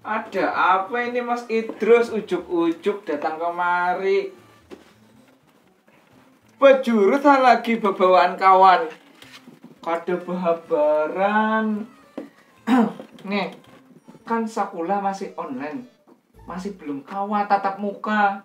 Ada apa ini Mas Idrus ujuk-ujuk datang kemari? Bejurut ha lagi bebawaan kawan. Kada behabaran. Nge, kan sakulah masih online. Masih belum kawa tatap muka.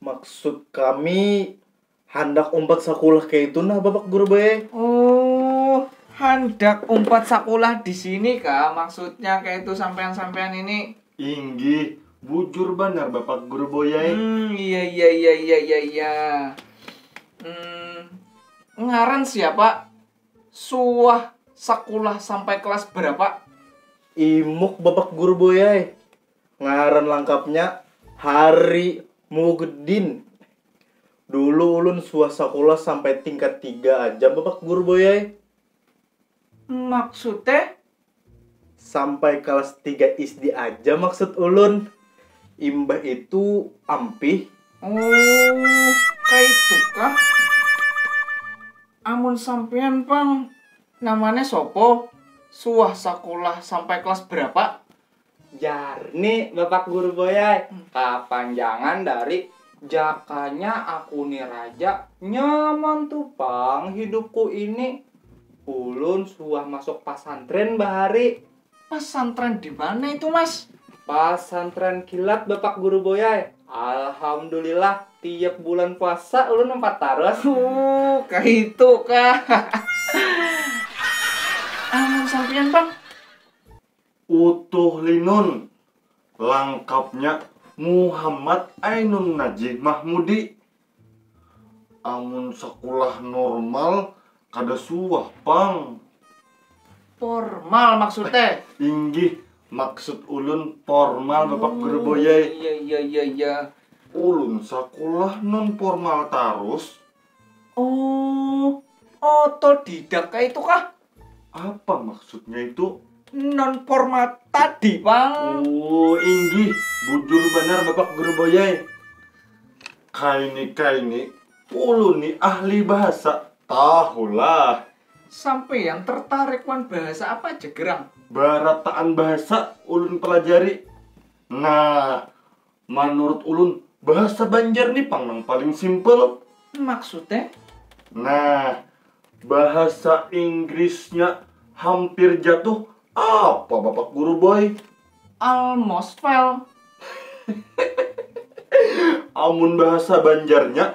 Maksud kami handak umpat sakulah kaitu nah Bapak Guru bae. Oh, handak umpat sakulah di sini kah maksudnya kaitu sampean-sampean ini? Inggih, bujur banar Bapak Guru boy ai. Hmm, iya iya iya iya iya iya. Hmm, ngaran siapa? Suah sakulah sampai kelas berapa? Imuk Bapak Guru boy ai. Ngaran langkapnya Hari Mugdin. Dulu ulun suah sakulah sampai tingkat tiga aja bapak guru boy ai. Maksud e? Sampai kalas tiga isdi aja maksud ulun. Imbah itu ampih. Oh, kaitu kah? Amun sampean pang namanya sopo? Suah sakulah sampai kelas berapa? Jar ni bapak guru boyai, kapanjangan dari jakanya aku ni raja, nyaman tu pang hidupku ini. Ulun suah masuk pasantren bahari. Pasantren dimana itu mas? Pasantren kilat bapak guru boyai, alhamdulillah tiap bulan puasa ulun umpat tarus. Ooh kaitu kah. Amun sampiyan pang. Utuh Linun, langkapnya Muhammad Ainun Najih Mahmudi. Amun sakulah normal kada suah pang. Pormal maksud te? Inggih, maksud ulun pormal bapak guru boyai. Iya iya iya iya. Ulun sakulah non pormal tarus. Oh, otodidak kaitu kah? Apa maksudnya itu? Non formal tadi, Pang. Oh, inggih. Bujur benar Bapak Guru Boyai. Kaini-kaini, ulun ni ahli bahasa. Tahulah. Sampean tertarik wan bahasa apa aja gerang? Barataan bahasa ulun pelajari. Nah, Manurut ulun, bahasa Banjar ni pang nang paling simple. Maksudnya? Nah, bahasa Inggrisnya hampir jatuh apa Bapak Guru Boy? Almost fell. Amun bahasa Banjarnya,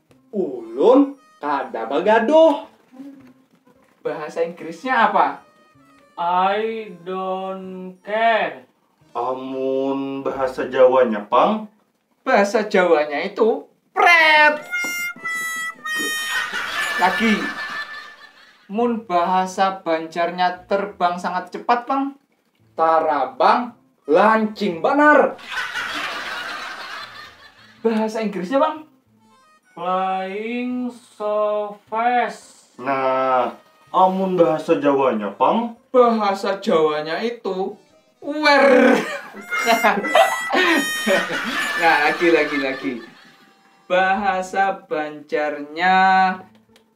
Ulun kada bagaduh. Bahasa Inggrisnya apa? I don't care. Amun bahasa Jawanya pang? Bahasa Jawanya itu pret. Lagi. Mun bahasa Banjarnya terbang sangat cepat pang? Tarabang lancing banar. Bahasa Inggrisnya bang? Flying so fast. Nah, amun bahasa Jawanya pang? Bahasa Jawanya itu wer. nah, lagi lagi lagi. Bahasa Banjarnya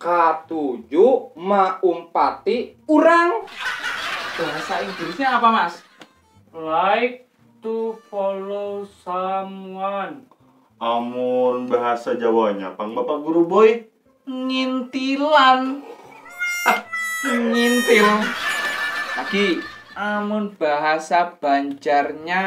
Katuju maumpati urang. Bahasa Inggrisnya apa mas? Like to follow someone. Amun bahasa jawanya pang bapak guru boy ngintilan ngintil lagi. Amun bahasa banjarnya